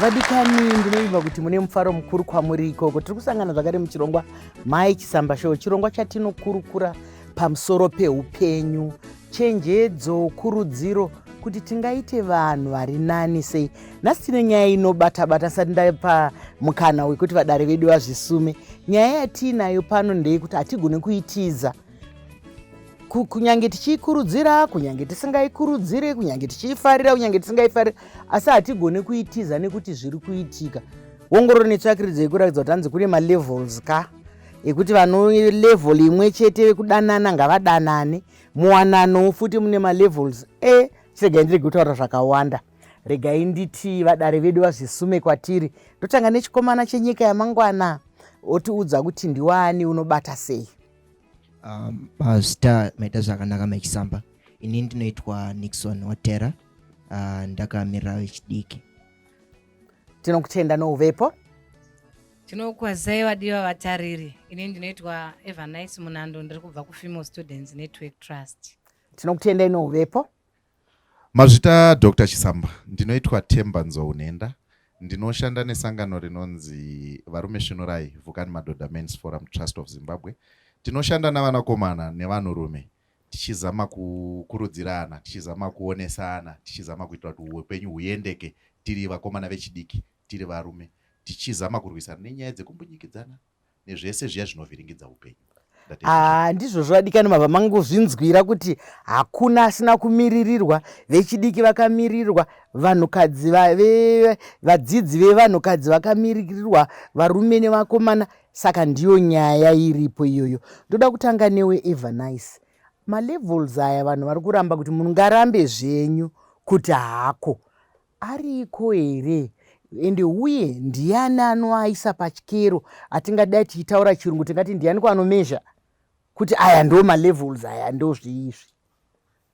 vadikani ndinoiva kuti mune mufaro mukuru kwamuri ikoko tiri kusangana zvakare muchirongwa mai chisamba show chirongwa chatinokurukura pamusoro peupenyu Chenjedzo, kurudziro kuti tingaite vanhu vari nani sei. Nhasi tine nyaya inobata-bata sati ndapa mukana wekuti vadare vedu vazvisume. Nyaya yatiinayo pano ndeyekuti hatigone kuitiza kunyange tichiikurudzira kunyange tisingaikurudziri kunyange tichiifarira kunyange tisingaifarira asi hatigone kuitiza nekuti zviri kuitika wongororo netsvakiridzo yekuratidza kuti hanzi kune malevels ka ekuti vanolevel imwe chete vekudanana ngavadanane muwanano futi mune malevels e chiregai ndirege kutaura zvakawanda regai nditi vadare vedu vazvisume kwatiri ndotanga nechikomana chenyika yamangwana otiudza kuti ndiwani unobata sei um, pazita maita zvakanaka mechisamba ini ndinoitwa nixon watera uh, ndakamirira vechidiki tinokutenda nouvepo Tinokwazai vadiwa vatariri. Ini ndinoitwa Evanice Munando ndiri kubva kuFemale Students Network Trust. Tinokutenda ino uvepo. Mazvita Dr. Chisamba, ndinoitwa Themba Nzou Nhenda. Ndinoshanda nesangano rinonzi Varume Svinurai Vhukani Madhodha Men's Forum Trust of Zimbabwe. Tinoshanda navanakomana nevanhurume tichizama kukurudzirana, tichizama kuonesana, tichizama kuitira kuti upenyu huyendeke tiri vakomana vechidiki tiri varume tichizama kurwisana nenyaya dzekumbunyikidzana nezvese zviya zvinovhiringidza upenyu haa ah, ndizvo zvovadikani mabva mangozvinzwira kuti hakuna asina kumiririrwa vechidiki vakamirirwa vanhukadzi vadzidzi vevanhukadzi vakamiririrwa varume nevakomana saka ndiyo nyaya iripo iyoyo ndoda kutanga newe evanice malevels aya vanhu vari kuramba kuti munhu ngarambe zvenyu kuti hako Ariko here and uye ndiani anoaisa pachikero atingadai tichitaura chirungu tingati ndianiko anomezha kuti aya ndo malevels aya ndo zviizvi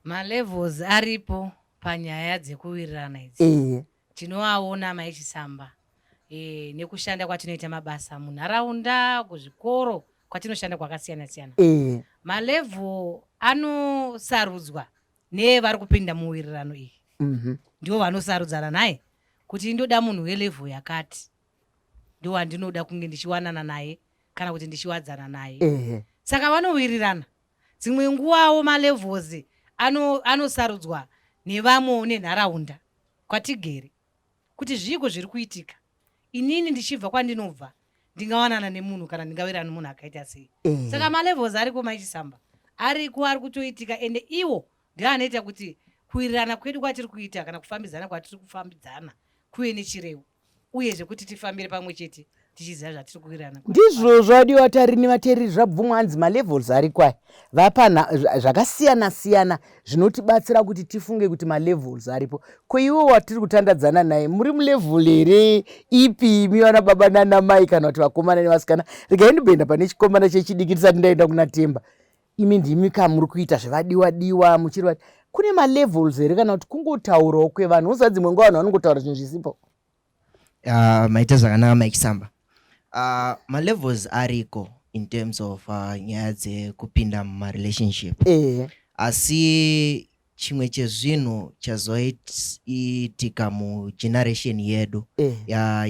malevels aripo panyaya dzekuwirirana idzi ehe tinoaona mai chisamba e, nekushanda kwatinoita mabasa munharaunda kuzvikoro kwatinoshanda kwakasiyana siyana ehe malevel anosarudzwa nevari kupinda muwirirano iyi mhm. ndivo vanosarudzana naye kuti indoda munhu welevel yakati ndiwo wandinoda kunge ndichiwanana naye kana kuti ndichiwadzana naye saka vanowirirana dzimwe nguvawo malevels anosarudzwa ano nevamwewo nenharaunda kwatigere kuti zviiko zviri kuitika inini ndichibva kwandinobva ndingawanana nemunhu kana ndingawira nemunhu akaita sei mm. saka malevels ariko maichisamba ariko ari kutoitika ende iwo ndio anoita kuti kuwirirana kwedu kwatiri kuita kana kufambidzana kwatiri kufambidzana kuve nechirevo uye zvekuti tifambire pamwe chete tichiziva zvatiri kuwirirana ndizvo zvadiwa vatariri nevatereri zvabvumwa hanzi malevels ari kwai vapana zvakasiyana siyana zvinotibatsira kuti tifunge kuti malevels aripo ko iwe watiri kutandadzana naye muri mulevel here ipi imi vana baba nana mai kana kuti vakomana nevasikana regai ndimboenda pane chikomana chechidiki tisati ndaenda kuna temba imi ndimi ka muri kuita zvevadiwa diwa muchiri vati kune malevels here kana kuti kungotaurawo kwevanhu uza dzimwe nguva vanhu vanongotaura zvinhu zvisipo Uh, maita zvakanaka Mike Samba. Uh, malevels ariko in terms of uh, nyaya dzekupinda mumarelationship eh. asi chimwe chezvinhu chazoitika mugeneration yedu eh.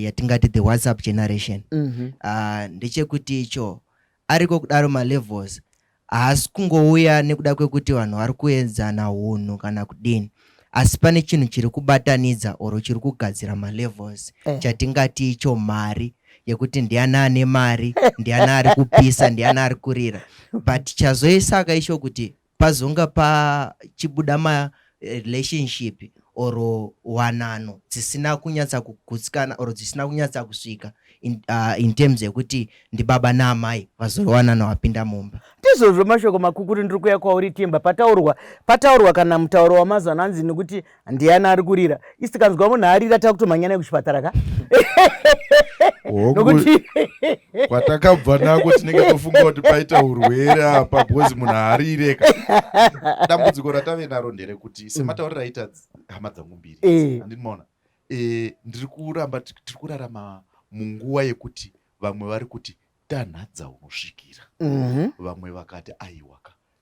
yatingati the whatsapp generation mm -hmm. uh, ndechekuti icho Ariko kudaro malevels haasi kungouya nekuda kwekuti vanhu vari kuedzana hunhu kana kudini asi pane chinhu chiri kubatanidza or chiri kugadzira malevels eh. chatingati icho mari yekuti ndiani ane mari ndiani ari kupisa ndiani ari kurira but chazoisaka icho kuti Pazonga pachibuda ma relationship or wanano dzisina kunyatsa kugutsikana or dzisina kunyatsa kusvika in, uh, in terms yekuti ndibaba naamai vazori wanano vapinda mumba ndizvozvo mashoko makukuri ndiri kuya kwauri timba pataurwa pataurwa kana mutauro wamazuva ano hanzi nekuti ndiani ari kurira isi tikanzwa munhu arira takutomhanya naye kuchipatara ka nokuti kwatakabva nako tinenge tofunga kuti paita urwere apa bhozi munhu haarire ka dambudziko ratave naro nderekuti mm. semataurira aita hama dzangu mbiri eh. andinimaona eh, ndiri kuramba tiri kurarama munguva yekuti vamwe vari kuti tanhadza unosvikira mhm. vamwe vakati aiwaka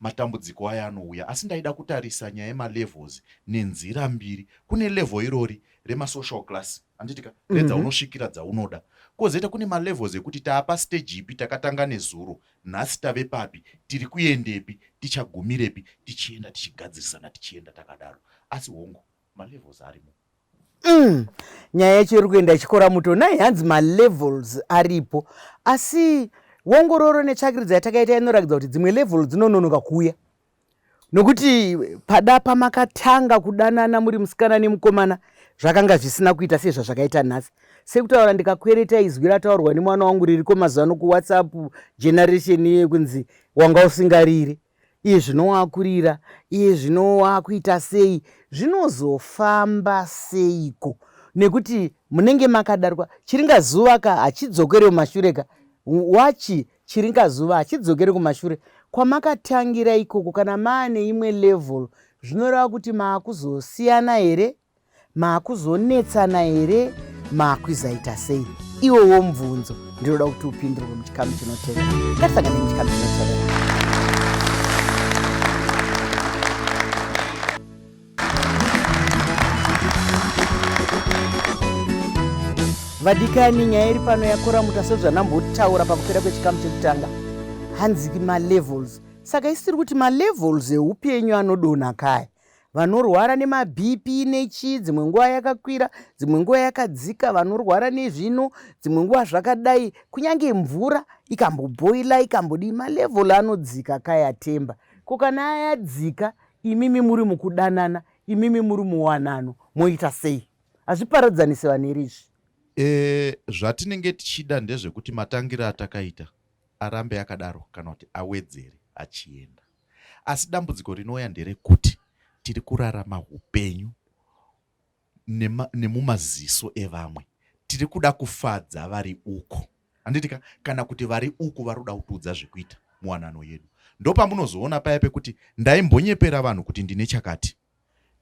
matambudziko aya anouya asi ndaida kutarisa nyaya yemalevels nenzira mbiri kune level irori remasocial class anditika mhm. redzaunosvikira dzaunoda kozoita kune malevels ekuti taapa stage ipi takatanga nezuro nhasi tave papi tiri kuendepi tichagumirepi tichienda tichigadzirisana tichienda takadaro asi hongu malevels arimo mm. nyaya yacho iri kuenda ichikora muto nai hanzi malevels aripo asi wongororo netsvakiridza yatakaita inorakidza kuti dzimwe level dzinononoka kuuya nokuti pada pamakatanga kudanana muri musikana nemukomana zvakanga zvisina kuita sezvazvakaita nhasi sekutaura ndikakwereta izwi rataurwa nemwana wangu ririko mazuva no kuwhatsapp generation yekunzi wanga usingariri Iye zvino waakurira, iye zvino waakuita sei, zvinozofamba seiko nekuti munenge makadarwa chiringazuva ka hachidzokere kumashure ka wachi chiringazuva hachidzokere kumashure kwamakatangira ikoko kana maane imwe level zvinoreva kuti maakuzosiyana here Maakuzonetsana here maakwizaita sei iwowo mubvunzo ndinoda kuti upindurwe muchikamu chinotevera ngatisangane muchikamu chinotevera vadikani nyaya iri pano yakora muta sezvanambotaura pakupera kwechikamu chekutanga hanzi malevels saka isiri kuti malevels eupenyu anodonha kaya vanorwara nemabp nechii dzimwe nguva yakakwira dzimwe nguva yakadzika vanorwara nezvino dzimwe nguva zvakadai kunyange mvura ikambobhoila ikambodii malevel anodzika kayatemba ko kana ayadzika imimi muri mukudanana imimi muri muwanano moita sei hazviparadzanisi vanhu here izvi e, zvatinenge tichida ndezvekuti matangiro atakaita arambe akadaro kana kuti awedzere achienda asi dambudziko rinouya nderekuti tiri kurarama hupenyu nemumaziso evamwe tiri kuda kufadza vari uko handitika kana kuti vari uku vari kuda kutiudza zvekuita muwanano yedu ndopamunozoona paya pekuti ndaimbonyepera vanhu kuti ndine chakati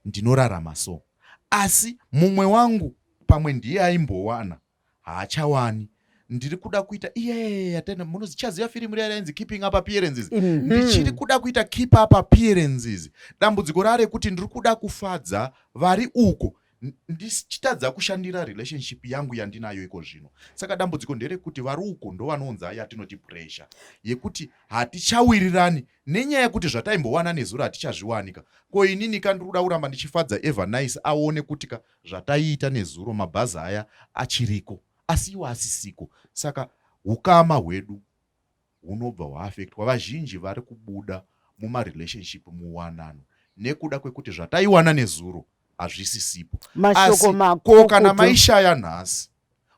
ndinorarama so asi mumwe wangu pamwe ndiye aimbowana haachawani ndiri kuda kuita iyeyeyeyatenda munozi chaziva firimu riya rainzi keeping up appearances mm -hmm. ndichiri kuda kuita keep up appearances dambudziko rare kuti ndiri kuda kufadza vari uko ndichitadza kushandira relationship yangu yandinayo iko zvino saka dambudziko nderekuti vari uko ndovanounza yatinoti pressure yekuti hatichawirirani nenyaya yekuti zvataimbowana nezuro hatichazviwanika ko inini ka ndiri kuda kuramba ndichifadza ever nice aone kuti ka Zvataiita nezuro mabhazi aya achiriko asi iwo asisiko saka hukama hwedu hunobva hwaafektwa. Vazhinji vari kubuda mumarelationship muwanano nekuda kwekuti zvataiwana nezuro hazvisisipo. Mashoko makukutu. Ko kana maishaya nhasi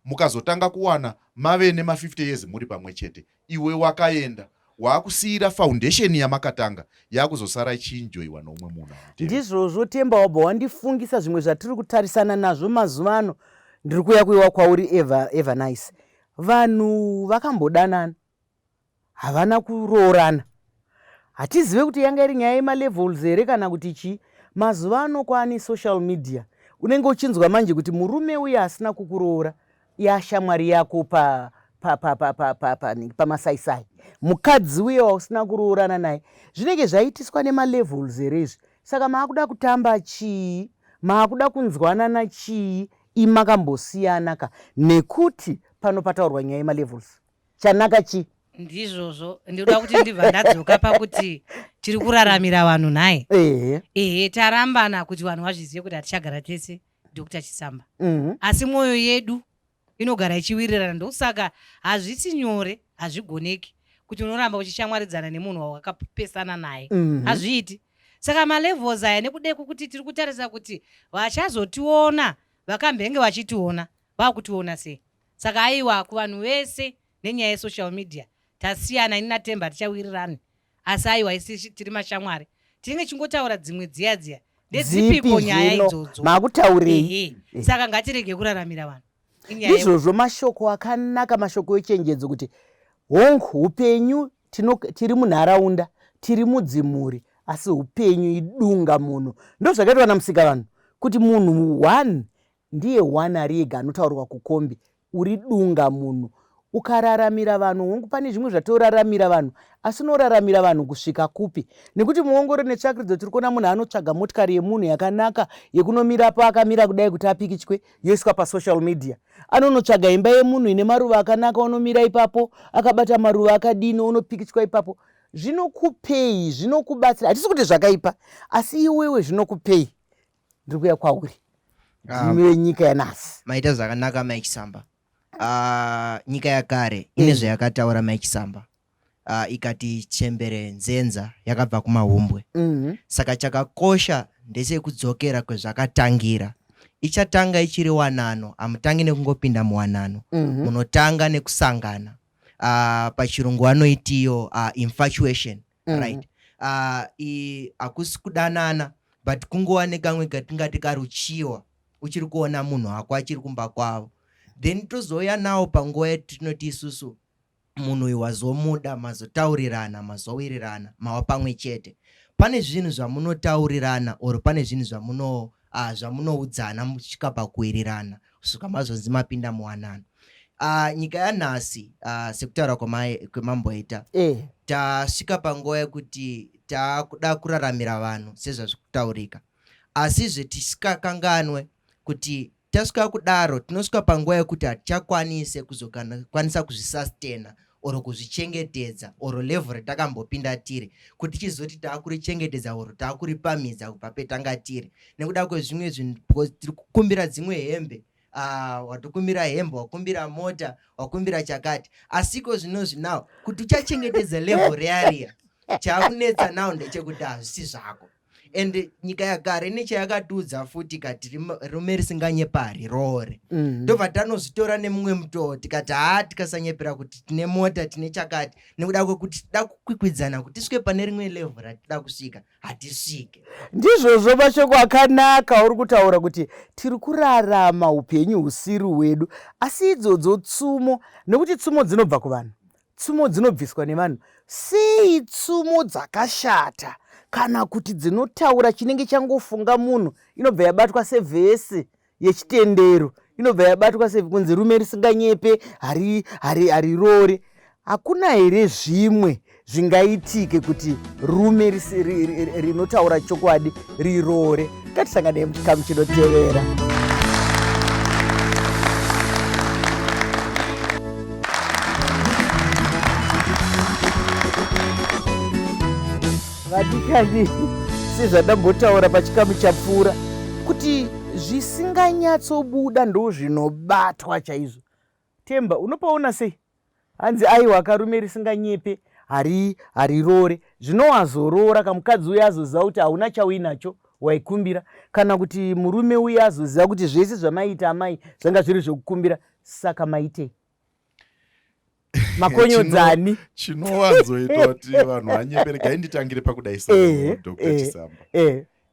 mukazotanga kuwana mave nema 50 years muri pamwe chete iwe wakaenda waakusiira foundation yamakatanga yakuzosara ichiinjoiwa noumwe munhu ndizvozvo temba wabva wandifungisa zvimwe zvatiri kutarisana nazvo mazuva ano ndiri kuya kuiwa kwauri eva, eva nice vanhu vakambodanana havana kuroorana hatizive kuti yanga iri nyaya yemalevels here kana kuti chii mazuva ano kwaane social media unenge uchinzwa manje kuti murume uye asina kukuroora yashamwari yako pa pamasaisai mukadzi uye wausina kuroorana naye zvinenge zvaitiswa nemalevels here izvi saka maakuda kutamba chii maakuda kunzwanana chii imakambosiyana ka nekuti pano pataurwa nyaya yemalevels chanaka chi ndizvozvo ndinoda kuti ndibva ndadzoka pakuti tiri kuraramira vanhu nhai ehe ehe tarambana kuti vanhu vazvizive kuti hatichagara tese dr chisamba mhm asi mwoyo yedu inogara ichiwirirana ndosaka hazvisi nyore hazvigoneki kuti unoramba uchishamwaridzana nemunhu wawakapesana naye mhm hazviiti saka malevels aya nekuda kwekuti tiri kutarisa kuti vachazotiona vakambenge vachitiona vakutiona sei Saka aiwa kuvanhu vese nenyaya yesocial media tasiyana ini naTemba hatichawirirani asi aiwa isu tiri mashamwari tinenge tichingotaura dzimwe dziya dziya ndedzipiko nyaya idzodzo makutaurei saka ngatirege kuraramira vanhu ndizvozvo mashoko akanaka mashoko echenjedzo kuti hong upenyu tiri munharaunda tiri mudzimhuri asi upenyu idunga munhu ndozvakaitwa namusika vanhu kuti munhu one Ndiye one ari ega anotaurwa kukombi. Uri dunga munhu. Ukararamira vanhu hongu pane zvimwe zvatoraramira vanhu asi unoraramira vanhu kusvika kupi nekuti muongoro netsvakiridzo tiri kuona munhu anotsvaga motikari yemunhu yakanaka yekunomira pa akamira kudai kuti apikichwe yoiswa pasocial media anonotsvaga imba yemunhu ine maruva akanaka onomira ipapo akabata maruva akadini onopikichwa ipapo zvinokupei zvinokubatsira hatisi kuti zvakaipa asi iwewe zvinokupei ndiri kuya kwauri ah. ndimi venyika yanasi maita zvakanaka mike samba ah, nyika yakare eh. ine zvayakataura mike samba ah, ikati chembere nzenza yakabva kumahumbwe mhm. saka chakakosha ndechekudzokera kwezvakatangira ichatanga ichiri wanano hamutangi nekungopinda muwanano mhm. munotanga nekusangana pachirungu vanoitiyo infatuation mm. right uh, i hakusi kudanana but kungova nekamwe katingati karuchiwa uchiri kuona munhu wako achiri kumba kwavo then tozouya nawo panguva yatinoti isusu munhu uyu wazomuda mazotaurirana mazowirirana mava pamwe chete pane zvinhu zvamunotaurirana or pane zvinhu zvamuno uh, zvamunoudzana muchisvika pakuwirirana kusvika mazonzi mapinda muwanano uh, nyika yanhasi uh, sekutaura kwemamboita eh. tasvika panguva yekuti takuda kuraramira vanhu sezvazvi kutaurika asizve tisikakanganwe kuti tasvika kudaro tinosvika panguva yekuti hatichakwanise kuzokwanisa kuzvisastena or kuzvichengetedza or level retakambopinda tiri kuti chizoti takurichengetedza or takuripamhidza kubva petanga tiri nekuda kwezvimwe zvinhu because tiri kukumbira dzimwe hembe Ah, watokumbira hembe wakumbira mota wakumbira chakati asiko zvinozvi now kuti uchachengetedza level rearia chakunetsa now ndechekuti hazvisi zvako and nyika yagara ine chayakatiudza futi ikati rume risinganyepari roore mhm. ndobva mm. tanozvitora nemumwe mutoo tikati haa tikasanyepera kuti tine mota tine chakati nekuda kwekuti tida kukwikwidzana kuti tisvike pane rimwe levhu ratida kusvika hatisvike ndizvozvo mashoko akanaka uri kutaura kuti tiri kurarama upenyu husiri hwedu asi idzodzo tsumo nekuti tsumo dzinobva kuvanhu Tsumo dzinobviswa nevanhu. Sei tsumo dzakashata kana kuti dzinotaura chinenge changofunga munhu inobva yabatwa sevhesi yechitendero inobva yabatwa sekunzi rume risinganyepe harirore hakuna here zvimwe zvingaitike kuti rume rinotaura chokwadi riroore ngatisanganei muchikamu chinotevera vadikani sezvadambotaura pachikamu chapfuura kuti zvisinganyatsobuda ndozvinobatwa chaizvo Themba, unopaona sei? Hanzi aiwa ka rume risinganyepe hari hariroore zvino wazoroora ka mukadzi uya azoziva kuti hauna chauinacho waikumbira kana kuti murume uya azoziva kuti zvese zvamaiita amai zvanga zviri zvekukumbira saka maitei makonyodzani chinowanzoita kuti vanhu vanyeperekai nditangire pakudai sa dr chisamba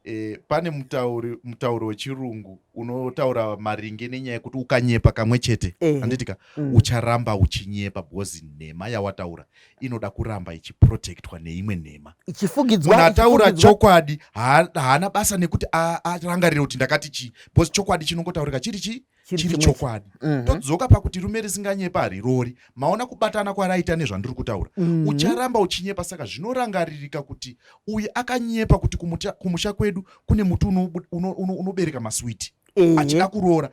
Eh, pane mutauri mutauro wechirungu unotaura maringe nenyaya yekuti ukanyepa kamwe chete eh. handitika mm. ucharamba uchinyepa because nhema yawataura inoda kuramba ichiprotectwa neimwe nhema ichifugidzwa ataura chokwadi haana basa nekuti arangarire kuti ndakati chii because chokwadi chinongotaurika chiri chii chiri chokwadi mhm. todzoka pakuti rume risinganyepa harirori maona kubatana kwaraita nezvandiri kutaura mhm. ucharamba uchinyepa saka zvinorangaririka kuti uyu akanyepa kuti kumusha kwedu kune muti unobereka maswiti achida kuroora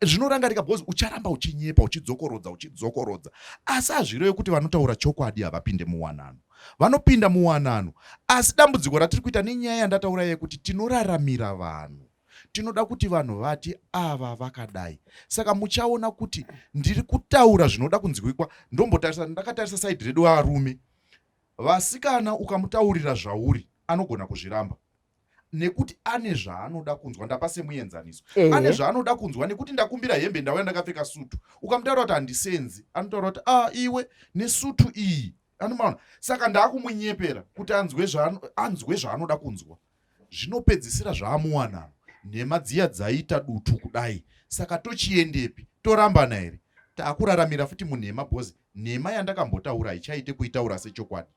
zvinorangarika bcause ucharamba uchinyepa uchidzokorodza uchidzokorodza asi hazvirewe kuti vanotaura chokwadi havapinde muwanano vanopinda muwanano asi dambudziko ratiri kuita nenyaya yandataura yekuti tinoraramira vanhu tinoda kuti vanhu vati ava vakadai saka muchaona kuti ndiri kutaura zvinoda kunzwikwa ndombotarisa ndakatarisa saidi redu varume vasikana ukamutaurira zvauri anogona kuzviramba nekuti ane zvaanoda kunzwa ndapa semuenzaniso ane zvaanoda kunzwa nekuti ndakumbira hembe ndauya ndakapfeka sutu ukamutaura kuti handisenzi anotaura kuti a ah, iwe nesutu iyi anomaona saka ndaakumunyepera kuti anzwe zvaanoda kunzwa zvinopedzisira zvaamuwanano nhema dziya dzaita dutu kudai saka tochiendepi torambana here takuraramira futi munhema bhozi nhema yandakambotaura haichaite kuitaura sechokwadi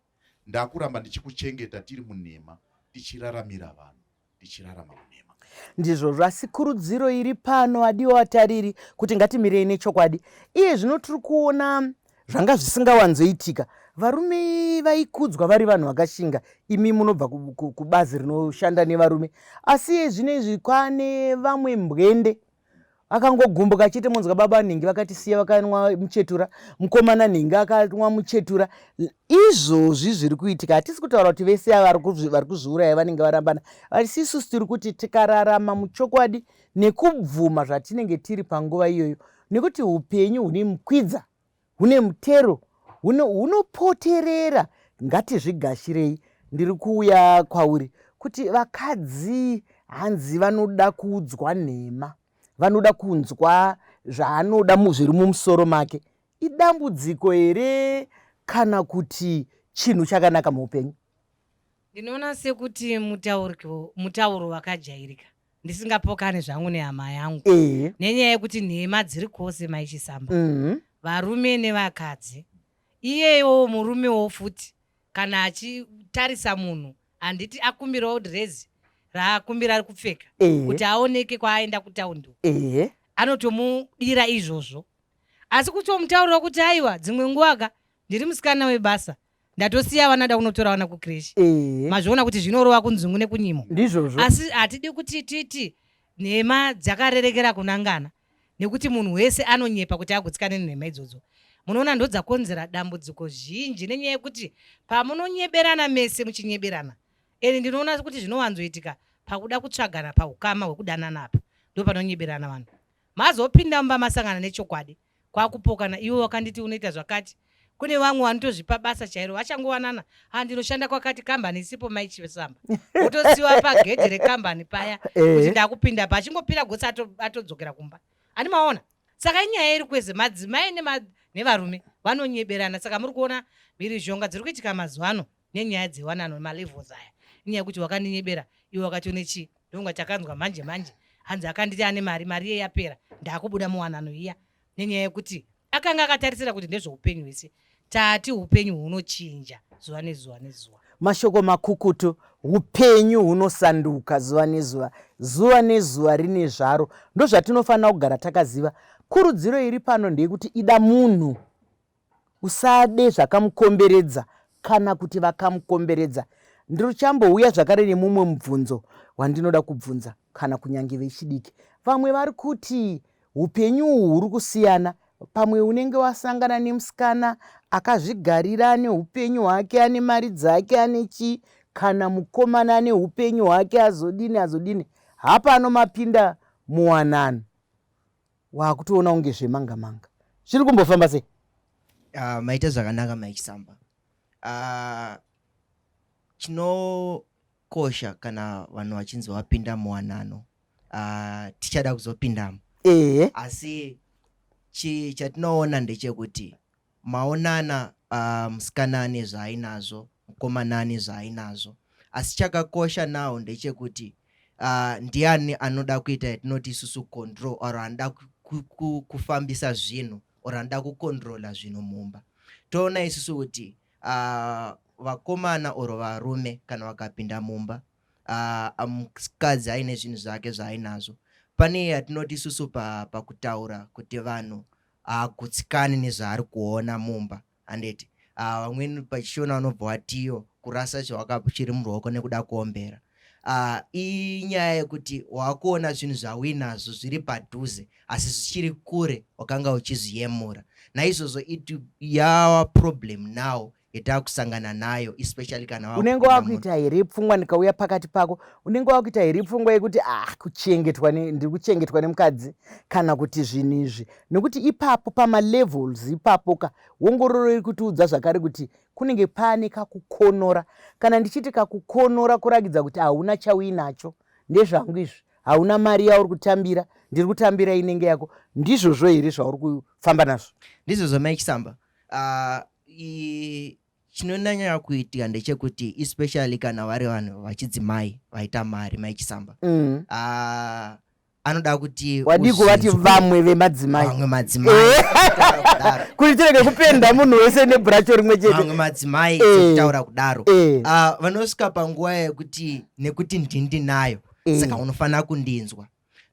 ndakuramba ndichikuchengeta tiri munhema tichiraramira vanhu tichirarama munhema ndizvo zvasikurudziro iri pano adiwa vatariri kuti ngatimirei nechokwadi iye zvino tiri kuona zvanga zvisingawanzoitika varume vaikudzwa vari vanhu vakashinga imi munobva kubazi rinoshanda nevarume asi zvino izvi kwane vamwe mbwende akangogumbuka chete monzwa baba nhingi vakatisiya vakanwa muchetura mukomana nhingi akanwa muchetura izvozvi zviri kuitika hatisi kutaura kuti vese vari kuzviuraya vanenge varambana asi isusu tiri kuti tikararama muchokwadi nekubvuma zvatinenge tiri panguva iyoyo nekuti upenyu hune mukwidza hune mutero hunopoterera ngatizvigashirei ndiri kuuya kwauri kuti vakadzi hanzi vanoda kuudzwa nhema vanoda kunzwa zvaanoda zviri mumusoro make idambudziko here kana kuti chinhu chakanaka muupenyu ndinoona sekuti mutauro wakajairika ndisingapokane zvangu nehama yangu eh. nenyaya yekuti nhema dziri kwose maichisamba mm. varume nevakadzi iyeyowo murumewo futi kana achitarisa munhu handiti akumbirawo drezi raakumbira ari kupfeka eh. kuti aoneke kwaaenda kutaundi eh. anotomudira izvozvo asi kutomutaurira kuti aiwa dzimwe nguvaka ndiri musikana webasa ndatosiya vana ndakunotora vana kukreshi eh. mazviona kuti zvinorova kunzungu nekunyimo ndizvozvo asi hatidi kuti titi nhema dzakarerekera kunangana nekuti munhu wese anonyepa kuti agutsikane nenhema idzodzo munoona ndodzakonzera dambudziko zhinji nenyaya yekuti pamunonyeberana mese muchinyeberana eni ndinoona kuti zvinowanzoitika pakuda kutsvagana paukama hwekudanana apa ndopanonyeberana vanhu mazopinda mumba masangana nechokwadi kwakupokana iwe wakanditi unoita zvakati kune vamwe vanotozvipa basa chairo vachangovanana ha ndinoshanda kwakati kambani isipo maichisamba otosiwa pagedhi rekambani paya eh. kuti ndakupinda pa achingopira gotsi atodzokera kumba ani maona saka inyaya iri kwese madzimai nevarume vanonyeberana saka muri kuona mhirizhonga dziri kuitika mazuva ano nenyaya dzewanano malevels aya inyaya yekuti wakandinyebera iwe wakati une chii ndonga chakanzwa manje manje hanzi akanditi ane mari mari iye yapera ndaakubuda muwanano iya nenyaya yekuti akanga akatarisira kuti ndezveupenyu hwese tati upenyu hunochinja zuva nezuva nezuva mashoko makukutu upenyu hunosanduka zuva nezuva zuva nezuva rine zvaro ndozvatinofanira kugara takaziva kurudziro iri pano ndeyekuti ida munhu Usade zvakamukomberedza kana kuti vakamukomberedza. Ndichambouya zvakare nemumwe mubvunzo wandinoda kubvunza kana kunyange vechidiki. Vamwe vari kuti upenyu uhwu huri kusiyana. Pamwe unenge wasangana nemusikana akazvigarira ane upenyu hwake, ane mari dzake, ane chii, kana mukomana ane upenyu hwake, azodini azodini. Hapano mapinda muwanano. Wakutoona kunge zvemanga manga. Zviri kumbofamba sei? Uh, maita zvakanaka Mike Samba. Uh, chinokosha kana vanhu vachinzi vapinda muwanano uh, tichada kuzopindamo ehe asi chatinoona ndechekuti Maonana aah musikana ane zvaainazvo mukomana ane zvaainazvo asi chakakosha now ndechekuti uh, ndiani anoda kuita yatinoti isusu control or anoda kufambisa zvinhu or anoda kucontrola zvinhu mumba toona isusu kuti uh, vakomana or varume kana vakapinda mumba uh, mukadzi aine zvinhu zvake zvaainazvo pane yatinoti isusu pakutaura pa kuti vanhu haagutsikani nezvaari kuona mumba handeti uh, vamweni pachishona vanobva watiyo kurasa chawakapo chiri muruoko nekuda kuombera uh, inyaya yekuti wakuona zvinhu zvauinazvo zviri padhuze asi zvichiri kure wakanga uchizviyemura naizvozvo it yawa problem now yatakusangana nayo especially kana unenge wakuita here pfungwa ndikauya pakati pako unenge wakuita here pfungwa yekuti ah kuchengetwa ndiri kuchengetwa nemukadzi kana kuti zvinhu izvi nekuti ipapo pamalevels ipapo ka wongororo iri kutiudza zvakare kuti kunenge pane kakukonora kana ndichiti kakukonora kurakidza kuti hauna chauinacho ndezvangu izvi hauna mari yauri kutambira ndiri kutambira inenge yako ndizvozvo here zvauri kufamba nazvo ndizvozvo maikisamba Ah, i- chinonyanya kuitika ndechekuti especially kana vari vanhu vachidzimai vaita mari mai chisamba Mm. Ah, anoda kuti wadii kuvati uzinzwe vamwe vemadzimai vamwe madzimai Eh. Kutaura kudaro. kuti tirege kupenda munhu wese nebhuracho rimwe chete vamwe madzimai Eh. sekutaura kudaro Eh, Ah, vanosvika panguva yekuti nekuti ndindinayo eh, saka unofanira kundinzwa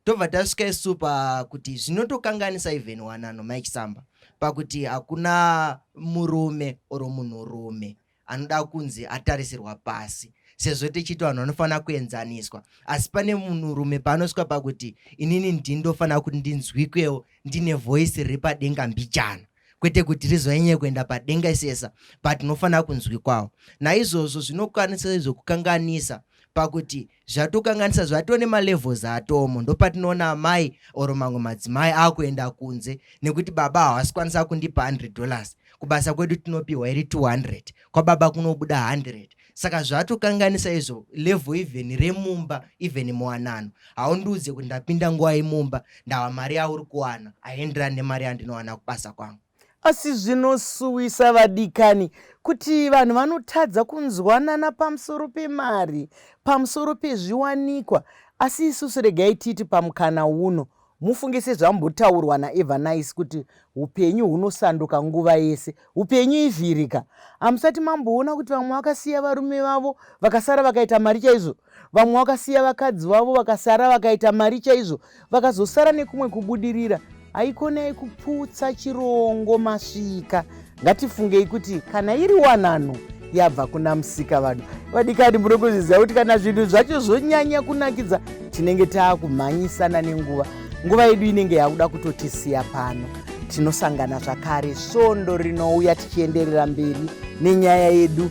tobva tasvika isu pakuti zvinotokanganisa even wanano mike samba pakuti hakuna murume or munhurume anoda kunzi atarisirwa pasi sezvo tichiti vanhu vanofanira kuenzaniswa asi pane munhurume paanosvika pakuti inini ndindofanira kuti ndinzwikwewo ndine voice riri padenga mbijana kwete kuti rizonyanye kuenda padenga isesa but unofanira kunzwikwawo naizvozvo zvinokwanisa izvo kukanganisa pakuti zvatokanganisa zvatone malevels atomo ndopatinoona amai or mamwe madzimai akuenda kunze nekuti baba hawasi kwanisa kundipa 100 dollars kubasa kwedu tinopiwa iri 200 kwababa kunobuda 100 saka zvatokanganisa izvo level even remumba even muwanano haundiudze kuti ndapinda nguva imumba ndava mari yauri kuwana haienderani nemari yandinowana kubasa kwangu Asi zvinosuwisa vadikani kuti vanhu vanotadza kunzwanana pamusoro pemari, pamusoro pezviwanikwa. Asi isusu regai titi pamukana uno, mufunge sezvambotaurwa naEvanice kuti upenyu hunosanduka nguva yese. Upenyu ivhirika. Hamusati mamboona kuti vamwe vakasiya varume vavo vakasara vakaita mari chaizvo? Vamwe vakasiya vakadzi vavo vakasara vakaita mari chaizvo vakazosara nekumwe kubudirira. Haikonai kuputsa chirongo masvika. Ngatifungei kuti kana iri wanano yabva kuna musika vanhu vadikani muri kuzviziva kuti kana zvinhu zvacho zvonyanya kunakidza tinenge taakumhanyisana nenguva nguva yedu inenge yakuda kutotisiya pano tinosangana zvakare svondo rinouya tichienderera mberi nenyaya yedu